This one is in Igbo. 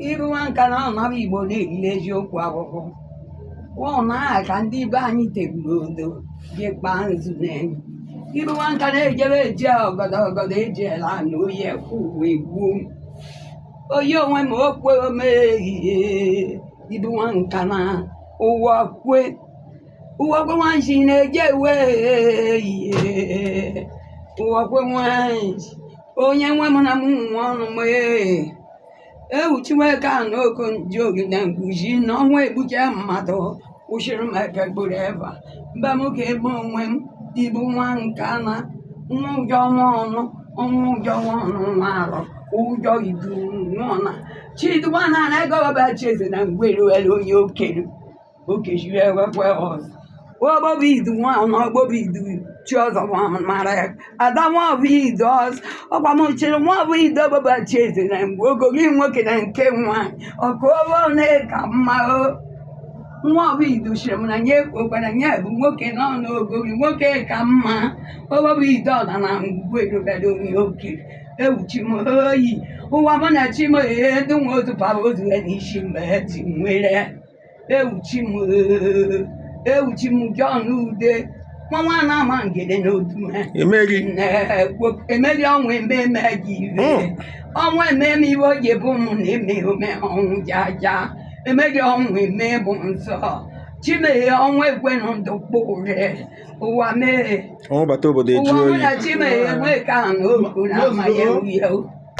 iru nwa nka na anaba igbo na-erili eziokwu ahụhụ wụọ na aha ka ndị be anyị teguru odo ji kpaa nzu n'elu iru nwa nka na-ejebe eji ọgọdọ ọgọdọ eji ele anụ oyi ekwu uwe gbuo m oyi onwe m okwe omehie ibu nwa nka na ụwa kwe ụwa kwe nwanji na-eje ewe ihe ụwa kwe nwanji onye nwe m na m nwa ọnụ m ee ewuchiweka n'oko nji ogide nkuzi n'ọnwa egbuche mmadụ kwụsịrị m eke gburu eva mba m ka ebe onwe m ibu nwa nke ana nwa ụjọ nwa ọnụ ọnwa ụjọ nwa ọnụ nwa arọ ụjọ idu nwa ọna chiduwa na anaghị ọbaba chieze na ngwere were onye okelu okechiri ewekwe ọzọ ogbobi idu nwa na ogbobi idu chi ọzọ bụ ahụ mara ya ada nwa bụ idu ọzọ ọkwa m chịrị nwa bụ idu obobo chi eze na mgbe ogori nwoke na nke nwaanyị ọkụ obo na ka mma o nwa ọbụ idu chịrị m na nye okwara nye bụ nwoke nọ n'ogori nwoke ka mma obobo idu ọla na ngwugwu erubere onye oke ewuchi m oyi ụwa mụ na chi m ee ndị nwa otu paba otu ya n'isi mgbe ha ji nwere ewuchi m ewuchi m John Ude nwa nwa na-ama ngede n'otu me emeri ọnwa ememe gị ire ọnwa ememe iwe oge bụ ụmụ na eme ome ọnwụ jaja emeri ọnwa eme bụ nsọ chimeghe ọnwa ekwenụ ndụ kpụre ụwa mee ọnwụ bata obodo ụwa eju mụ oyi na chimeghe ekwe ka na oku na amaghị ewu ya